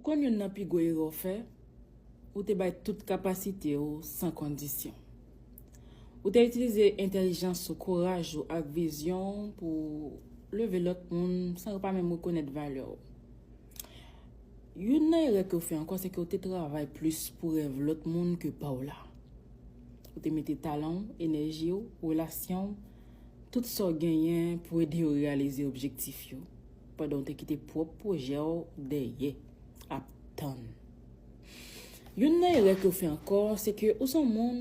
Ou konn youn nan pi gwo erè w fè? Ou te bay tout kapasite w san kondisyon. Ou te itilize entèlijans ou, kouraj ou ak vizyon w pou w leve lòt moun san yo pa menm rekonèt valè w. Youn nan erè ke w fè ankò se ke w te travay plis pou rèv lòt moun ke pa w la. Ou te mete talan w, enèji w, relasyon w, tout sa w genyen pou ede yo reyalize objektif yo. Pandan w te kite pwòp pwojè w dèyè, ap tann. Youn nan erè ke w fè ankò, se ke ou se yon moun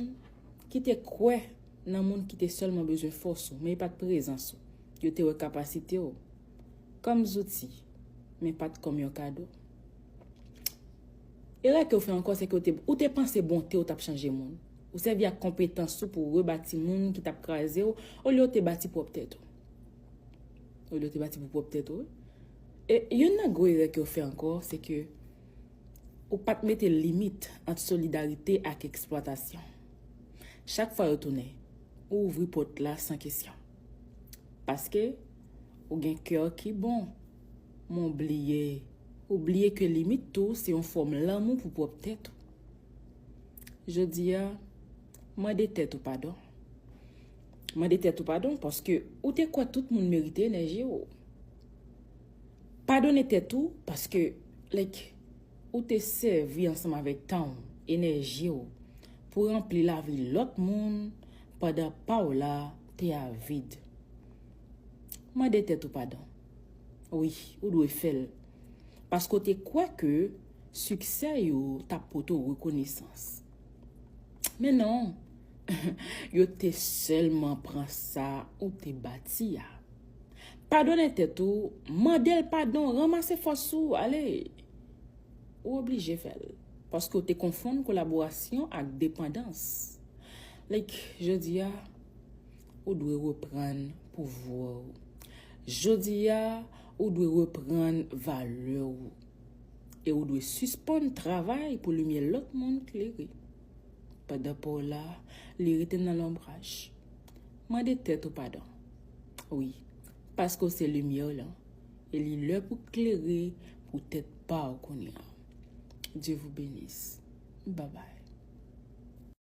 ki te kwè nan moun ki te sèlman bezwen fòs ou, men e pa t prezans ou. Yo te wè kapasite w kòm zouti, men pa t kòm yon kado. Erè ke w fè ankò, se ke ou te panse bonte w t ap chanje moun. Ou sèvi ak konpetans ou pou rebati moun ki t ap kraze w, olye w te bati pwòp tèt ou. Ou do te bati pou pwop tèt ou. E yon nan gwo erè ke ou fè anko, se ke ou pat mete limit ant solidarite ak eksplwatasyon. Chak fwa yo tounen, ou ouvri pot la san kesyon. Paske, ou gen kè ki bon. Men ou bliye, ou bliye ke limit tou se yon fom lanmou pou pwop tèt ou. Jodi a, mande tèt ou padon. Mande tèt ou padon paske ou te kwè tout moun merite enèji ou. Padone tèt ou paske like ou te sèvi ansanm avèk tan ou, enèji ou pou ranpli lavi lòt moun pandan pa w la te a vid. Mande tèt ou padon. Wi, ou dwe fè l. Paske w te kwè ke siksè yo t ap pote w rekonesans. Men non, yo te sèlman pran sa ou te bati a. Padone tèt ou, mande l padon, ranmase fòs ou, ale! Ou oblije fè l, paske ou te konfonn kolaborasyon ak depandans. Like, jodi a, ou dwe reprann pouvwa ou. Jodi a, ou dwe reprann valè ou. e ou dwe sispann travay pou limyè lòt moun klere. Pandan pa w la, li rete nan lonbraj. Mande tèt ou padon. Wi, paske w se limyè w lan, e li lè pou klere pou tèt pa w kounye a. Dye vou benis. Babay.